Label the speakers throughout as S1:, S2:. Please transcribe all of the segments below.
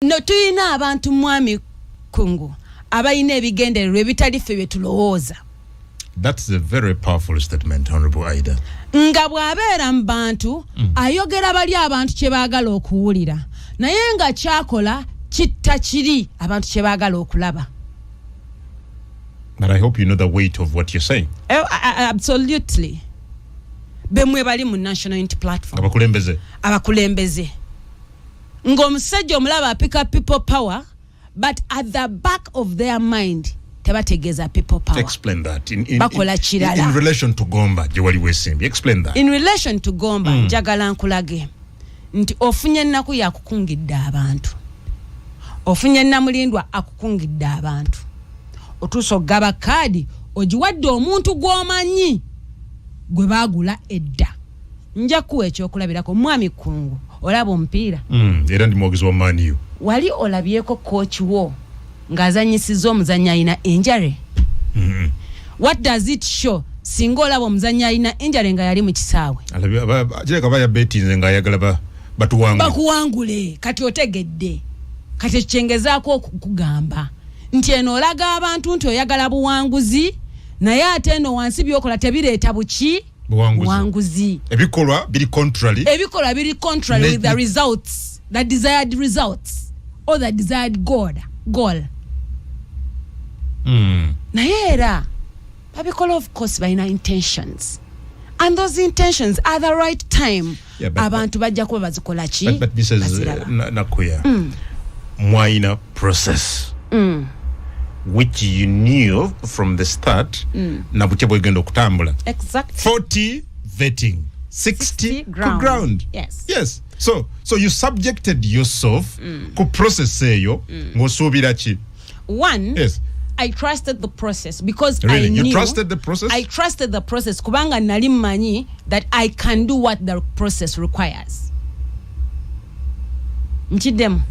S1: no tuyina abantu mwami kungu abayina ebigendererwa ebitali ffe bye tulowooza That is
S2: a very powerful statement, Honorable Aida. Nga bw'abeera
S1: mu bantu mm. ayogera bali abantu kye baagala okuwulira naye nga kyakola kitta kiri abantu kye baagala okulaba.
S2: But I hope you know the weight of what you're saying. Eh, absolutely.
S1: Bemwe bali mu National Unity Platform. Abakulembeze. Abakulembeze. ng'omusajja omulaba apika people power but at the back of their mind tebategeeza people power explain that in, in,
S2: bakola kirala in, in relation
S1: to gomba gye
S2: wali weesimbye explain that in relation to gomba
S1: hmm. njagala mm. nkulage nti ofunye ennaku yakukungidde abantu ofunye namulindwa akukungidde abantu otuusa okugaba kaadi ogiwadde omuntu gw'omanyi gwe baagula edda nja kuwa ekyokulabirako mwami kungu olaba omupiira mm, era ndi mwogezi wa
S2: maniu wali olabyeko
S1: coach wo ng'azanyisiza omuzanyi alina injury mm -hmm. what does it show singa olaba omuzanyi alina injury nga yali mu kisaawe kireka ba
S2: yabetinze nga ayagala batuwangule bakuwangule
S1: kati otegedde kati ekikyengezaako okugamba nti eno olaga abantu nti oyagala buwanguzi naye ate eno wansi byokola tebireeta buki buwanguzi ebikolwa
S2: biri contrary ebikolwa biri contrary
S1: with the results the desired results or the desired god goal mm. naye era babikola of course balina intentions and those intentions are the right time Yeah, but- abantu bajja kuba bazikola ki But, but Mrs. Baziraba.
S2: Na- Nakuya, Mwaina process, which you knew from the start, na butya bwegenda okutambula. Exactly.
S1: 40
S2: vetting, 60, ku ground. ground. Yes. Yes. So, so you subjected yourself ku process eyo ng'osuubira ki? one yes.
S1: I
S2: trusted the
S1: process because really? I knew you trusted the process.
S2: I trusted the process
S1: kubanga nali manyi that I can do what the process requires. Nchidem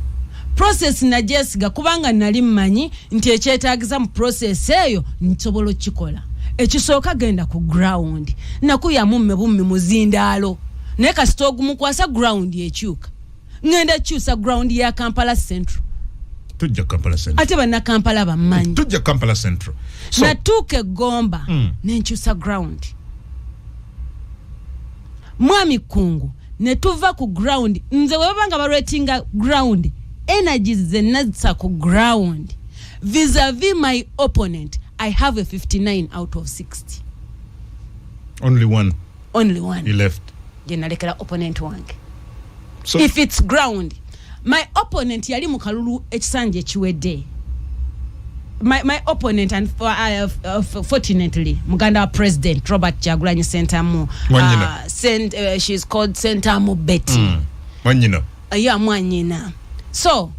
S1: process na Jessica kubanga nali manyi nti ekyetaagisa mu process eyo nsobola okikola. Ekisooka genda ku ground nakuyamu mmebumme muzindaalo naye kasita ogumukwasa ground ekyuka. ngenda kyusa ground ya kampala central tujja
S2: kampala central ate banna kampala
S1: bammanyi tujja kampala central
S2: so, natuuka egomba
S1: mm. nenkyusa ground mwami kungu netuva ku ground nze webaba nga balwetinga ground energies zenazisa ku ground visavi my opponent i have a 59 out of 60 only
S2: one only one he left
S1: je
S2: nalekera opponent
S1: wange so, if
S2: it's ground
S1: my opponent yali mu kalulu ekisanja ekiwedde my, my opponent and for, uh, uh, fortunately muganda wa president robert jagulanyi sentamu uh, sent, uh, she's called sentamu betty mm. mwanyina
S2: ya mwanyina
S1: so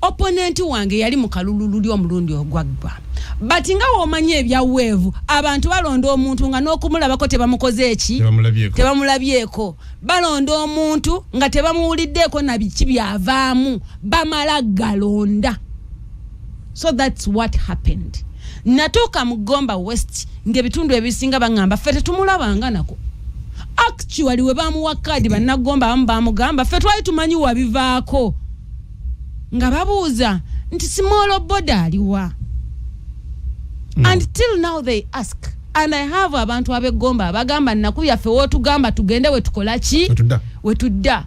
S1: opponent wange yali mu kalulu luli omulundi ogwaggwa but nga womanyi ebya weevu abantu balonda omuntu nga n'okumulabako tebamukoze eki tebamulabyeko balonda omuntu nga tebamuwuliddeeko nabiki byavaamu bamala galonda so that's what happened natuuka mu gomba west ngaebitundu ebisinga baŋamba ffe tetumulabanga nako actually we bamuwa kaadi bannagomba abamu bamugamba ffe twali tumanyi wabivaako nga babuuza nti simoolo boda aliwa hmm. and till now they ask and i have abantu abegomba abagamba naku yaffe wotugamba tugende wetukola ki wetudda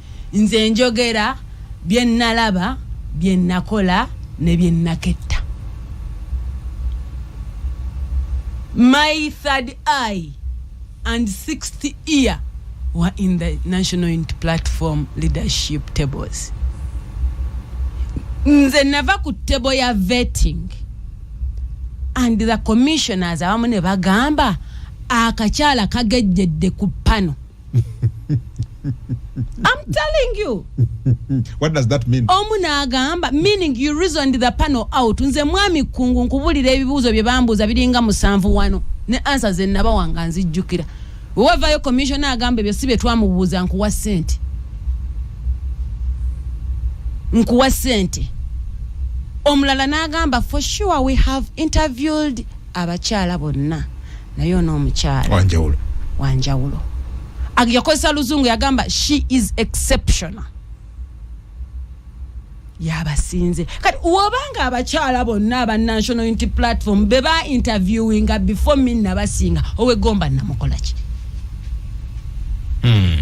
S1: nze
S2: njogera
S1: bye nnalaba bye nnakola ne bye nnaketta my third eye and sixth ear were in the national unity platform leadership tables nze nava ku tebo ya vetting and the commissioners abamu ne bagamba akakyala kagejjedde ku pano I'm telling you. What does
S3: that mean? Omu n'agamba
S1: meaning you reasoned the panel out. Nze mwami Kkungu nkubulira ebibuuzo bye bambuuza biringa musanvu wano ne answer ze nabawa nga nzijjukira. Wewavayo commissioner agamba ebyo si bye twamubuuza nkuwa ssente. Nkuwa ssente. Omulala n'agamba for sure we have interviewed abakyala bonna. naye ono omukyala wanjawulo wanjawulo yakozesa luzungu yagamba she is exceptional yabasinze kati wobanga abakyala bonna aba national unity platform beba interviewinga before me nabasinga owegomba namukolaki mm.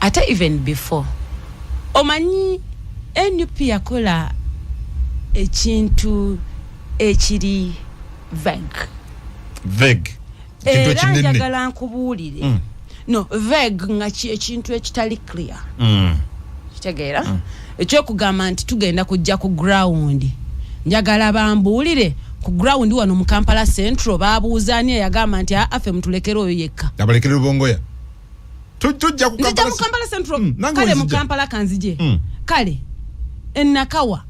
S1: ate even before omanyi nup yakola ekintu ekiri veg veg
S2: era
S1: njagala nkubuulire mm. no veg nga ekintu ekitali clear mm. kitegeera mm. ekyokugamba nti tugenda kujja ku ground njagala bambuulire ku ground wano mu kampala central babuuza ani eyagamba nti afe mutulekere oyo yekka abalekere lubongoya
S2: tujja kukampala central
S1: mm, kale mu kampala kanzije mm. kale enakawa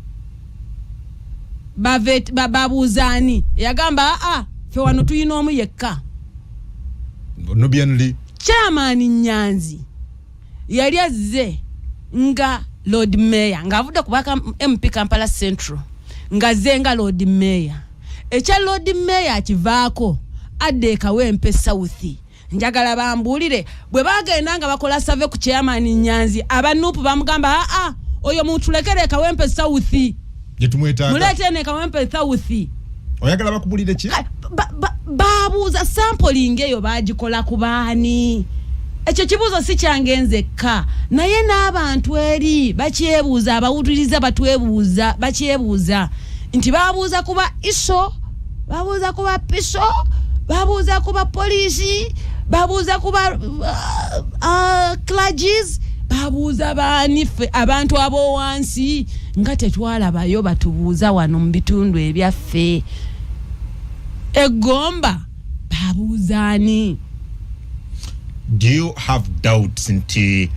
S1: babuuza ani eyagamba aa fe wano tulina omu yekka nubianli
S3: kyamaani
S1: nyanzi yali azze nga lord mayor ng'avudde ku baka mp kampala central ng'azze nga lord mayor ekya lord mayor akivaako adda ekawempe south njagala bambuulire bwe bagenda nga bakola save ku chairman nyanzi abanuupu bamugamba aa oyo mutulekere ekawempe south jetumwetaga
S3: mulete ne kawempe
S1: thawuthi oyagala
S3: bakubulire ki babuuza
S1: ba, ba, sampling eyo bagikola ku baani ekyo kibuuzo si kyange nzekka naye n'abantu eri bakyebuuza abawuliriza batwebuuza bakyebuuza nti babuuza kuba iso babuuza kuba piso babuuza kuba poliisi babuuza kuba uh, uh, clages babuuza baani ffe abantu ab'owansi nga tetwalabayo batubuuza wano mu bitundu ebyaffe egomba babuuzaani
S2: do you have doubts nti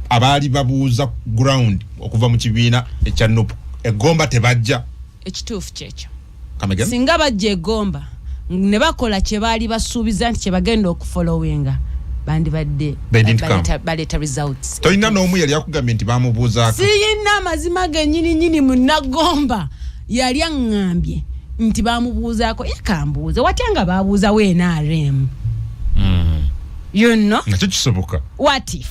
S2: abaali babuuza ground okuva mu kibiina ekya nup egomba tebajja ekituufu kyekyo
S1: singa
S2: bajja egomba
S1: ne bakola kye baali basuubiza nti kye bagenda okufolowinga bandibadde baleeta results tolina n'omu yali akugambye
S2: nti bamubuuzaako siyina amazima
S1: genyini nyini munagomba yali aŋŋambye nti bamubuuzaako yakambuuza watya nga babuuzawo nrm hmm. you know nakyo kisoboka
S2: what if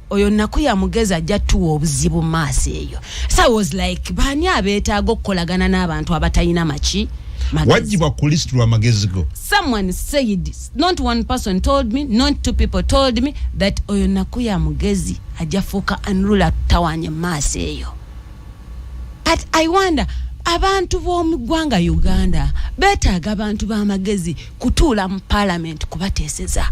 S1: oyo naku yamugezi ajja tuwa obuzibu maaso eyo sa was like baani abeetaaga okukolagana n'abantu abatalina maki wajibwa ku
S2: list lwa magezi go someone said
S1: not one person told me not two people told me that oyo naku yamugezi ajja fuuka anrula tawanye maaso eyo but i wonder abantu b'omu ggwanga uganda beetaaga abantu b'amagezi kutuula mu paalamenti kubateeseza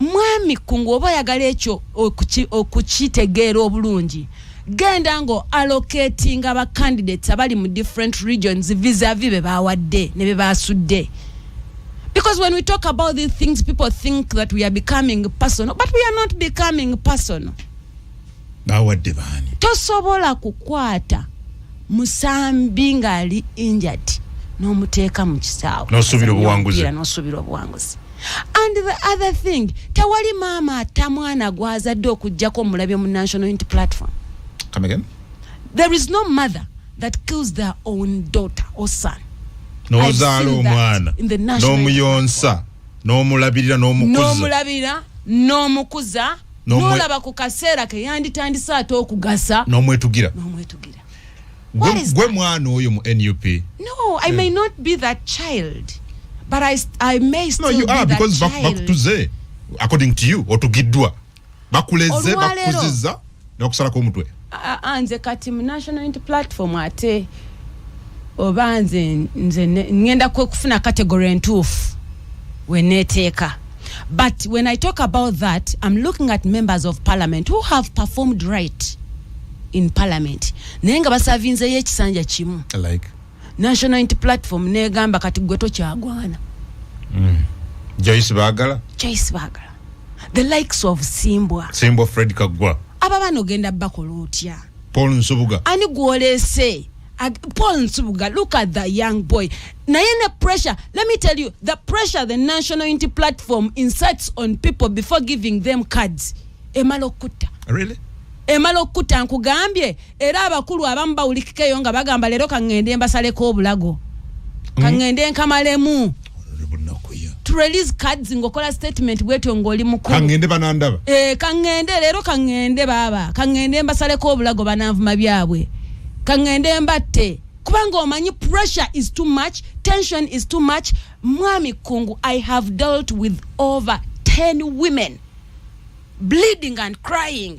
S1: mwami kungu oba oyagala ekyo okukitegeera obulungi genda ngo allocating aba candidates abali mu different regions vis-a-vis be bawadde ne be basudde because when we talk about these things people think that we are becoming personal but we are not becoming personal
S3: bawadde baani tosobola
S1: kukwata musambi ng'ali injured n'omuteeka mu kisaawe
S3: nosuubira
S1: obuwanguzi and the other thing tewali maama atta mwana gwazadde okujjako omulabye mu national unity platform Come
S3: again? there is no
S1: mother that kills their own daughter or son nozaala
S3: omwana nomuyonsa nomulabirira nomukuzanomulabirira
S1: nomukuza nolaba ku kaseera keyanditandise ate okugasa nomwetugira nomwetugira gwe mwana oyo
S3: mu nup no i may
S1: not be that child but i, I may still no, you be are, that because child. bakutuze
S3: according to you otugiddwa bakuleze bakuziza nakusalako omutwe anze kati
S1: mu national unity platform ate oba nze nze ngenda kufuna category entuufu weneeteeka But when I talk about that, I'm looking at members of parliament who have performed right in parliament. Naye nga basavinzeyo ekisanja kimu. Like
S3: National Unity
S1: Platform negamba kati gwe tokyagwana. Mm.
S3: Joyce Bagala. Joyce Bagala.
S1: The likes of Simbwa. Simbwa Fred Kagwa.
S3: Aba bano genda
S1: bakola otya? Paul Nsubuga.
S3: Ani gwolese?
S1: Ag- Paul Nsubuga, look at the young boy. Naye ne pressure, let me tell you, the pressure the National Unity Platform incites on people before giving them cards. Emala okutta. Really?
S3: emala okukutta
S1: nkugambye era abakulu abamu bawulikikeyo nga bagamba leero kaŋŋende mbasaleko obulago kaŋŋende nkamalemu to release cards ngokola statement bwetyo ngoli mukulu kangende banandaba eh
S3: kangende lero
S1: kangende baba kangende mbasale ko bulago banavuma byabwe kangende mbatte kubanga omanyi pressure is too much tension is too much mwami kungu i have dealt with over 10 women bleeding and crying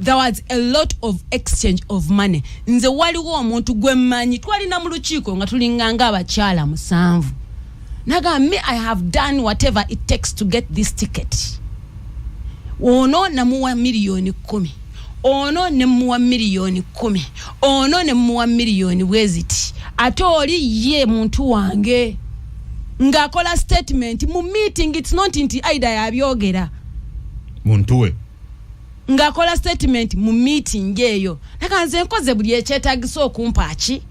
S1: there was a lot of exchange of money nze waliwo omuntu gwe mmanyi twalina mu lukiiko nga tulinganga abakyala musanvu naga me i have done whatever it takes to get this ticket ono namuwa miliyoni kumi ono ne muwa miliyoni kumi ono ne muwa miliyoni bweziti ate oli ye muntu wange ng'akola statement mu meeting it's not nti aida yabyogera muntu
S3: we
S1: ng'akola statement mu meeting eyo naga nze nkoze buli ekyetagisa okumpa ki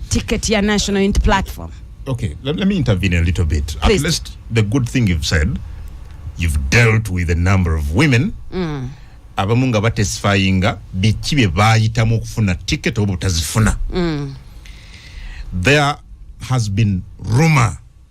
S1: ticket ya national unity platform okay let, let me
S3: intervene a little bit Please. at least the good
S1: thing
S3: you've said you've dealt with a number of women mm. abamu nga batesifayinga biki bye bayitamu okufuna ticket oba otazifuna mm. there has been rumor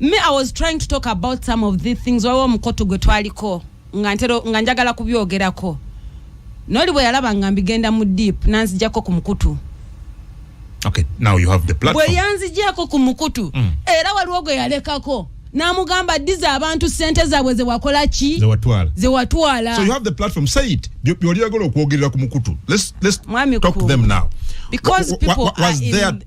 S1: me i was trying to talk about some of the things waliwo omukoto gwe twaliko nga ntero nga njagala kubyogerako noli bwe yalaba nga mbigenda mu deep nanzijako ku mukutu
S3: okay now you have the platform bwe yanzijako ku
S1: mukutu mm. era waliwo gwe yalekako namugamba diza abantu sente zabwe zewakola ki zewatwala zewatwala so you have the platform
S3: say it byoliyagala okwogerera ku mukutu let's let's talk to them now because people
S1: was, was, was there in,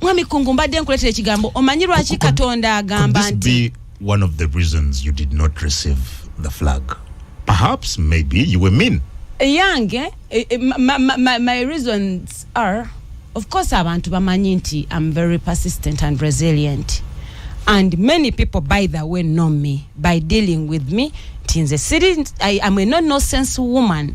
S1: mwami kungu mbadde nkuletera ekigambo omanyi lwaki katonda agamba nti one of the
S2: reasons you did not receive the flag perhaps maybe you were mean yange eh, eh,
S1: eh, my, my, my reasons are of course abantu bamanyi nti i'm very persistent and resilient and many people by the way know me by dealing with me nti nze siri i'm a no nonsense woman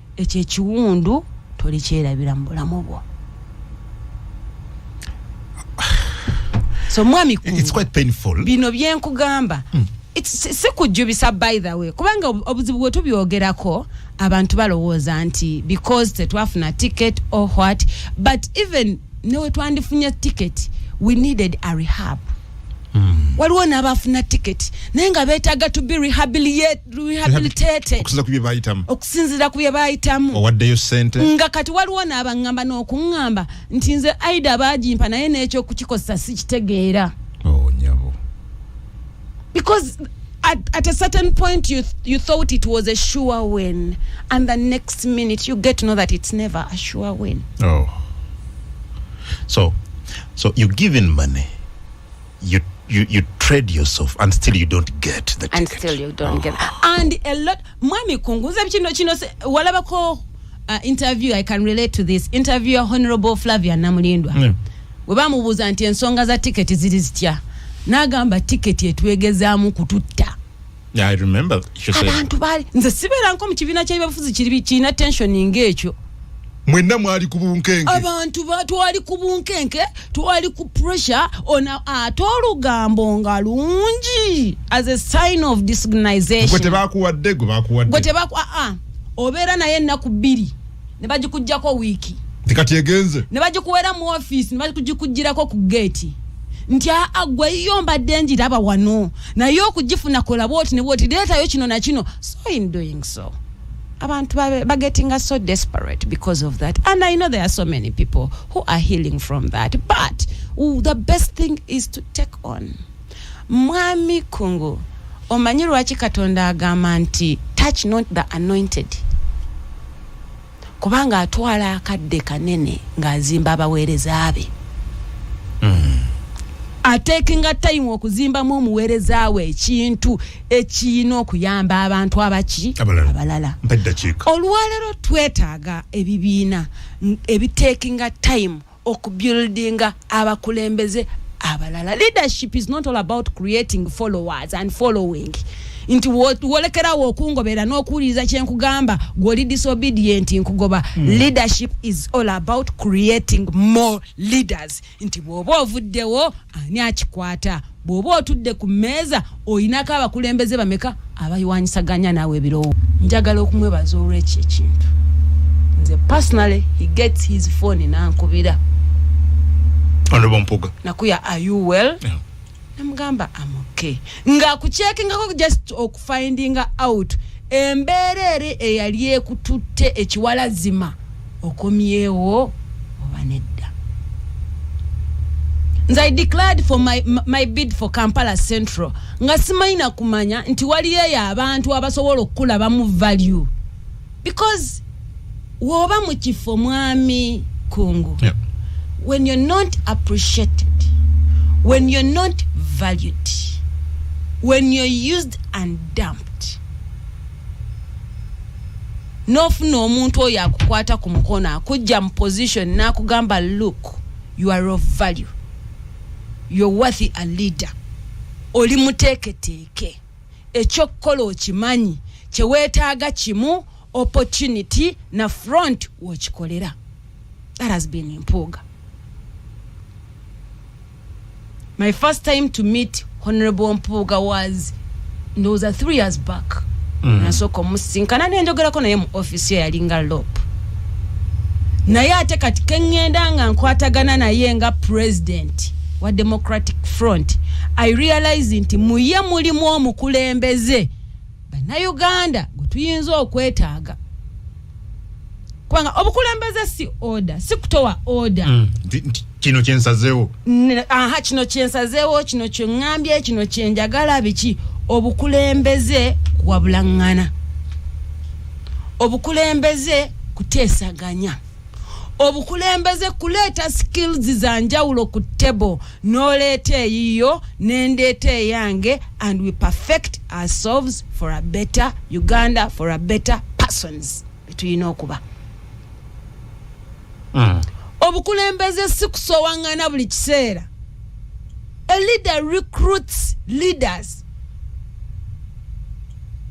S1: ekyo ekiwundu tolikyerabira mu bulamu bwo so mwami bino
S3: byenkugamba
S1: mm. sikujjubisa by the way kubanga obuzibu bwe tubyogerako abantu balowooza nti because tetwafuna ticket or what but even newetwandifunye ticket we needed a rehab hmm. waliwo n'abaafuna tiketi naye nga beetaaga to be rehabilitated okusinziira ku bye baayitamu owaddeyo sente
S3: nga kati waliwo
S1: n'abaŋŋamba n'okuŋŋamba nti nze aida baagimpa naye n'ekyokukikozesa sikitegeera oh, because at, at a certain point you, you thought it was a sure win and the next minute you get to know that it's never a sure win oh
S2: so so you're given money you you you trade yourself and still you don't get the and ticket. still you don't oh. get ah.
S1: and a lot mwami kungu nze kino kino walabako uh, interview i can relate to this interview ya honorable flavia namulindwa yeah. we bamubuuza nti ensonga za tiketi ziri zitya n'agamba tiketi etwegezaamu kututta I remember
S2: she said abantu bali nze sibera
S1: nko mu kibina kya bafuzi kiri kina tension ngekyo mwenna
S3: mwali ku bunkenke abantu twali
S1: ku bunkenke twali ku pressure ona ate olugambo nga lungi as a sign of disorganization gwe tebakuwadde
S3: gwe bakuwadde gwe tebaku ah, ah.
S1: obeera naye ennaku bbiri ne bagikugjako wiiki tekati egenze
S3: ne bagikuwera mu
S1: office ne bagikugjirako ku geeti nti aa gwe yo mbadde njiraba wano naye okugifuna kola bwoti ne bwoti leetayo kino na kino so in doing so abantu bagetinga so desperate because of that and i know there are so many people who are healing from that but ooh, the best thing is to take on mwami kungu omanyi lwaki katonda agamba nti touch not the anointed kubanga atwala akadde kanene ng'azimba abaweereza be hmm. atekinga tayimu okuzimbamu omuweereza we ekintu ekiyina okuyamba abantu abaki abalala olwaleero twetaaga ebibiina ebitekinga tayimu okubuildinga abakulembeze abalala leadership is not all about creating followers and following nti wolekerawo okungobera n'okuwuliriza kyenkugamba gwoli disobedient nkugoba mm. leadership is all about creating more leaders nti bw'oba ovuddewo ani akikwata bw'oba otudde ku mmeeza olinako abakulembeze bameka abayiwanyisaganya naawe ebirowo njagala okumwebaza olwekyo ekintu nze personally he gets his phone nankubira
S3: nakuya are you well
S1: yeah.
S3: namugamba
S1: amoke nga kukyekingako just okufindinga out embeera eri eyali ekututte ekiwalazima okomyewo oba nedda nze i declared for my, my bid for kampala central nga simanyi nakumanya nti waliyo eyo abantu abasobola okukulabamu value because woba mu kifo mwami kungu yeah.
S3: when you're not
S1: appreciated when you're not valued when you're used and dumped nofuna omuntu oyo akukwata ku mukono akujja mu position nakugamba look you are of value you're worthy a leader oli muteeketeeke ekyokukola okimanyi kyewetaaga kimu opportunity na front wokikolera that has been mpuuga my first time to meet honorable mpuuga was ndowooza three years back mm. nasooka omusinkana nenjogerako naye mu office yo yalinga lop naye ate kati kengenda nga nkwatagana naye nga president wa democratic front i realize nti muye mulimu omukulembeze bannayuganda gwe tuyinza okwetaaga kubanga obukulembeze si order si kutowa order mm. kino
S3: kyensazeewo aha kino
S1: kyensazeewo kino kyeŋŋambye kino kyenjagala biki obukulembeze kuwabulaŋŋana obukulembeze kuteesaganya obukulembeze kuleeta skills za njawulo ku table n'oleeta eyiyo nendeeta eyange and we perfect ourselves for a better uganda for a better persons betulina okuba mm. obukulembeze si kusowaŋŋana buli kiseera a leader recruits leaders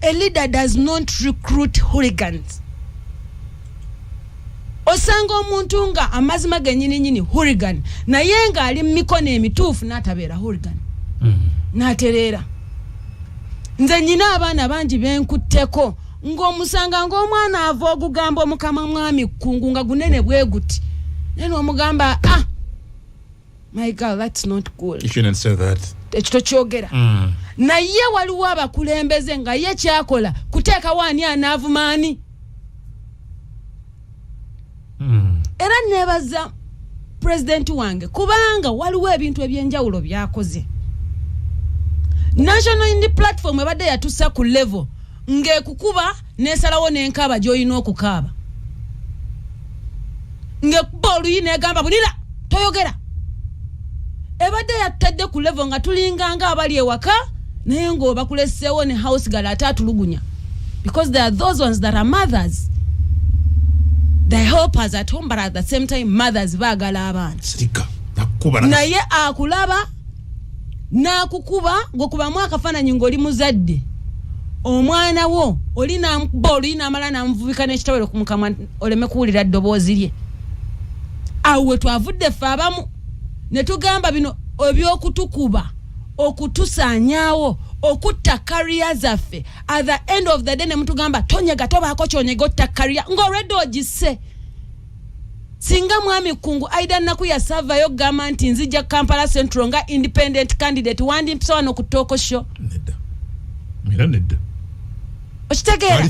S1: a leader does not recruit hooligans osanga omuntu nga amazima genyini nyini hurigan naye nga ali mumikono emituufu natabeera hurigan mm. natereera nze nyina abaana bangi benkutteko ng'omusanga ng'omwana ava ogugamba omukama mwami kkungu nga gunene bwe guti naye nomugamba a ah, my girl that's not good you shouldn't say that
S3: ekyo tokyogera
S1: mm. naye waliwo abakulembeze nga ye kyakola kuteekawo ani anaavuma ani mm. era nebaza pulezidenti wange kubanga waliwo ebintu ebyenjawulo byakoze national indi platform ebadde yatusa ku level ng'ekukuba nesalawo nenkaaba gyolina okukaaba ngekuba oluyi negamba bulira toyogera ebadde yattadde ku levo nga tulinganga abali ewaka naye ngaobakuleseewo ne house gal ate atulugunya because there are those ones that are mothers the helpers at home but at the same time mothers baagala abaana naye akulaba n'akukuba ng'okubamu akafaananyi ng'oli muzadde omwana wo oli namukuba oluyi namala namuvubika nekitawero kumukamwa oleme kuwulira ddoboozi lye awo wetwavudde ffe abamu netugamba bino ebyokutukuba okutusanyawo okutta kariya zaffe at the end of the day nemutugamba tonyega tobaako kyonyega otta kariya ngaolwedde ogisse singa mwami kungu aida naku yasavayo okugamba nti nzija kampala central nga independent candidate wandimpisa wano ku tooko sho okitegeera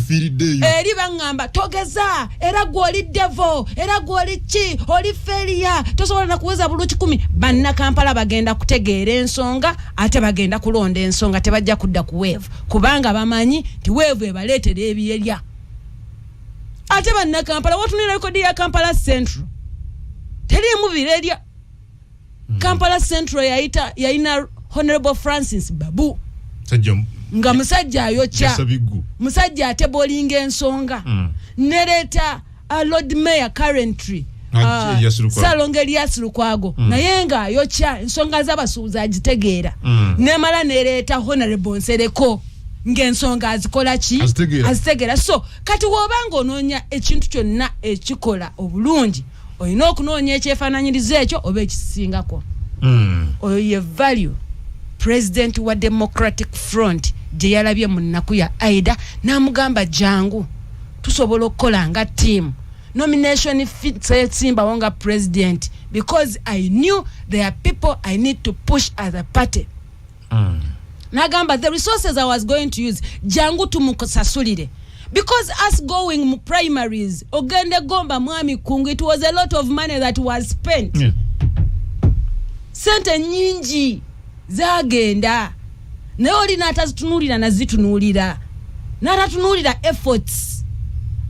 S1: eri baŋŋamba togeza era gwe oli devo era gwe oli ki oli feriya tosobola nakuweza bulu kikumi bannakampala bagenda kutegeera ensonga ate bagenda kulonda ensonga tebajja kudda ku weevu kubanga bamanyi nti weevu ebaleetera ebyerya ate bannakampala watunira rekodi ya kampala central teriimu birerya hmm. kampala central yayita yayina honorable francis babu nga musajja ayokya musajja atebolinga ensonga hmm. nereeta uh, lord mayor currentry Ah, ah, salonga eliasi lukwago mm. naye nga ayokya ensonga z'abasuubuzi agitegeera mm. nemala nereeta honorable nsereko ng'ensonga azikola ki azitegeera so kati woba ng'onoonya ekintu kyonna ekikola obulungi olina okunoonya ekyefaananyiriza ekyo oba ekisingako hmm. oyo ye value president wa democratic front gye yalabye mu nnaku ya aida n'amugamba jangu tusobola okukola nga tiimu nomination fitsesimbawo nga president because i knew there are people i need to push as a party mm. nagamba the resources i was going to use jangu tumusasulire because us going mu primaries ogende gomba mwami kungu it was a lot of money that was spent yeah. sente nyingi zagenda naye oli natazitunulira nazitunulira natatunulira efforts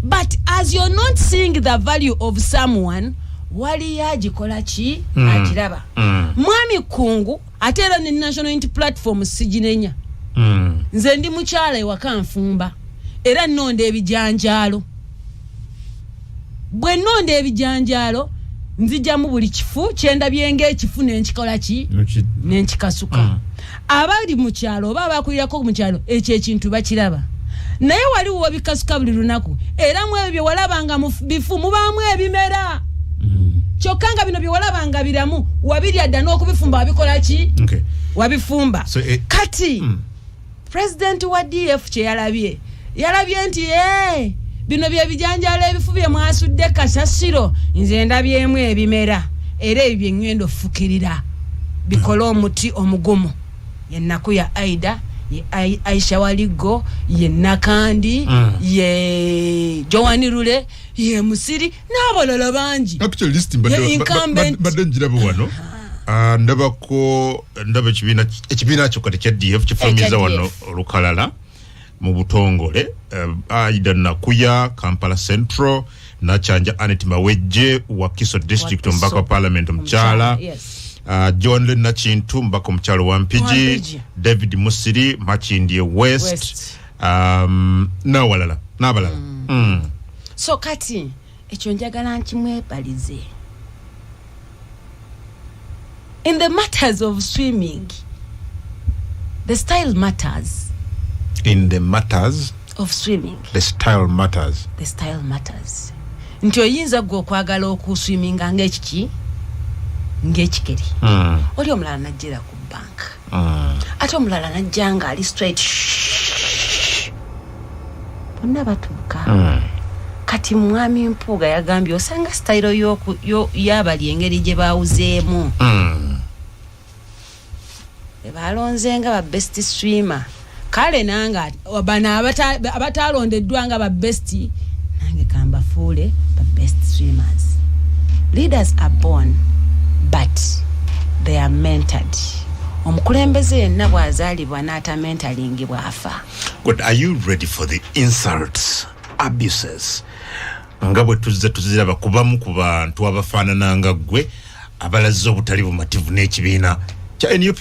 S1: but as you're not seeing the value of someone waliyo agikola ki mm. agiraba mm. mwami kungu mm. ate era ne national unity platform siginenya mm. nze ndi mukyala ewaka nfumba era nnonda ebijanjaalo bwe nnonda ebijanjaalo nzijamu buli kifu kyendabye ngaekifu nenkikola ki nenkikasuka mm. abali mu kyalo oba abakulirako mu kyalo ekyo ekintu bakiraba naye wali wobikasuka buli lunaku era mwebyo byewalabanga mu bifu mubaamu ebimera mm. kyokka nga bino byewalabanga biramu wabirya dda n'okubifumba wabikola ki wabifumba eh, kati mm. president wa df kyeyalabye yalabye nti e bino byebijanjala ebifu bye mwasudde kasasiro nze ndabyemu ebimera era ebyo byeŋŋenda ofukirira bikole omuti omugumu ye nnaku ya aida ye Ai- aisha waliggo ye nakandi Mm. ye joani lule ye musiri n'abalala bangi actually list mbadde- Ye ba- ba-
S3: incumbent. ba- badde njiraba wano Ah, ndabako ndaba ekibiina ekibiina kyo kati kya df kifamiza Ekya wano DF. olukalala mu butongole eh, aida nakuya kampala central nakyanja anet mawejje wakiso district omubaka wa parliament omukyala Uh, john le nakintu omubaka omukyalo wa mpigi david musiri makindie west, west. Um, nawalala nabalala mm.
S1: mm. so kati ekyo njagala nkimwebalize in the matters of swimming the style matters in the
S3: matters of swimming
S1: the style
S3: matters the style matters
S1: nti oyinza gwe okwagala okuswiminga ngaekiki ngaekikeri mm. oli omulala najjera ku banka mm. ate omulala najja nga ali straight bonna batuuka mm. kati mwami mpuuga yagambye osanga sitayiro yabali engeri gye bawuzeemu mm. ebalonze nga ba best streamer kale nange bano abataalondeddwa nga ba best nange kambafuule ba best streamers leaders are born but they are mentored omukulembeze yenna bw'azaalibwa n'atamentalingibwa bwafa god are you
S3: ready for the insults abuses nga bwe tuzze tuziraba kubamu ku bantu abafaanana nga ggwe abalaze obutali bumativu n'ekibiina kya nup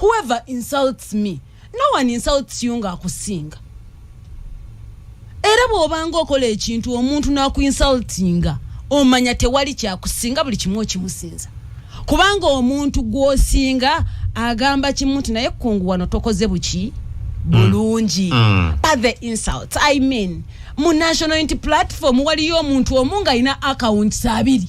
S1: whoever insults me no one insults you nga akusinga era bwobanga okola ekintu omuntu nakuinsultinga omanya tewali kyakusinga buli kimu okimusinza kubanga omuntu gwosinga agamba kimu nti naye kungu wano tokoze buki bulungi mm. mm. but the insults i mean mu national unity platform waliyo omuntu omu nga alina accounts abiri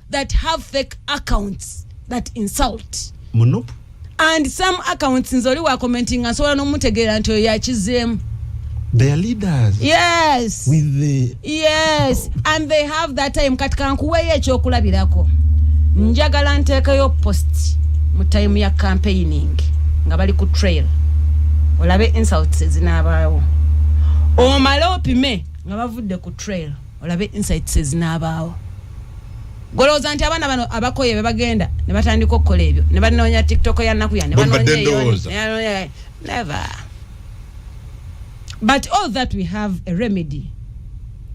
S1: that have fake accounts that insult munup
S3: and some
S1: accounts nze oli wa commenting nsobola n'omutegeera nti oyo yakizeemu their
S3: leaders yes with
S1: the yes and they have that time kati kankuweeyo ekyokulabirako njagala nteekeyo post mu time ya campaigning nga bali ku trail olabe insults ezinaabaawo omale opime nga bavudde ku trail olabe insights ezinaabaawo golowooza nti abaana bano abakoye be bagenda ne batandika okukola ebyo ne banoonya tiktok ya nnaku ya ne banoonya never but all that we have a remedy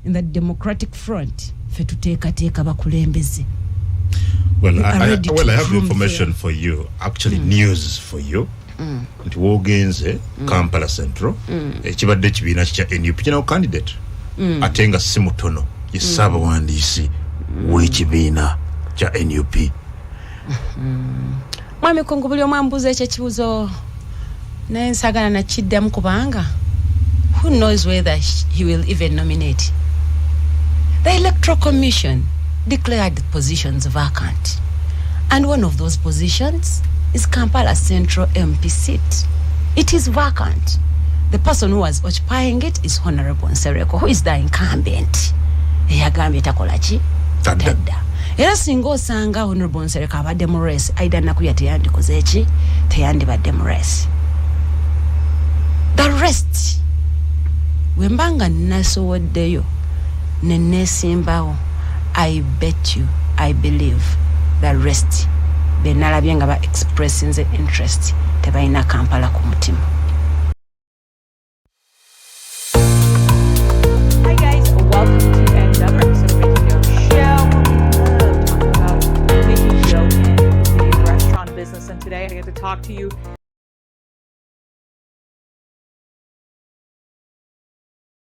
S1: in the democratic front fe tuteekateeka bakulembeze
S3: Well, I, I, well, I have information for you, actually, mm. news for you. Mm. nti wogenze mm. Kampala Central mm. ekibadde ekibiina kya NUP kinawo candidate mm. ate nga si mutono ye ssaabawandiisi mm. w'ekibiina kya NUP mm.
S1: mwami kungu buli omwe ambuuza ekyo ekibuzo naye nsagala nakiddamu kubanga who knows whether he will even nominate the electoral commission declared positions vacant and one of those positions is Kampala Central MP seat it is vacant the person who was occupying it is honorable Nsereko who is the incumbent eyagambye takola ki tadda era singa osanga honorable Nsereko abadde mu race aida nakuya teyandikoze ki teyandibadde mu race the rest wembanga nasowodeyo nenesimbawo i bet you i believe the rest benalabye nga ba expressinze interest tebalina kampala ku mutima Today, I get to talk to you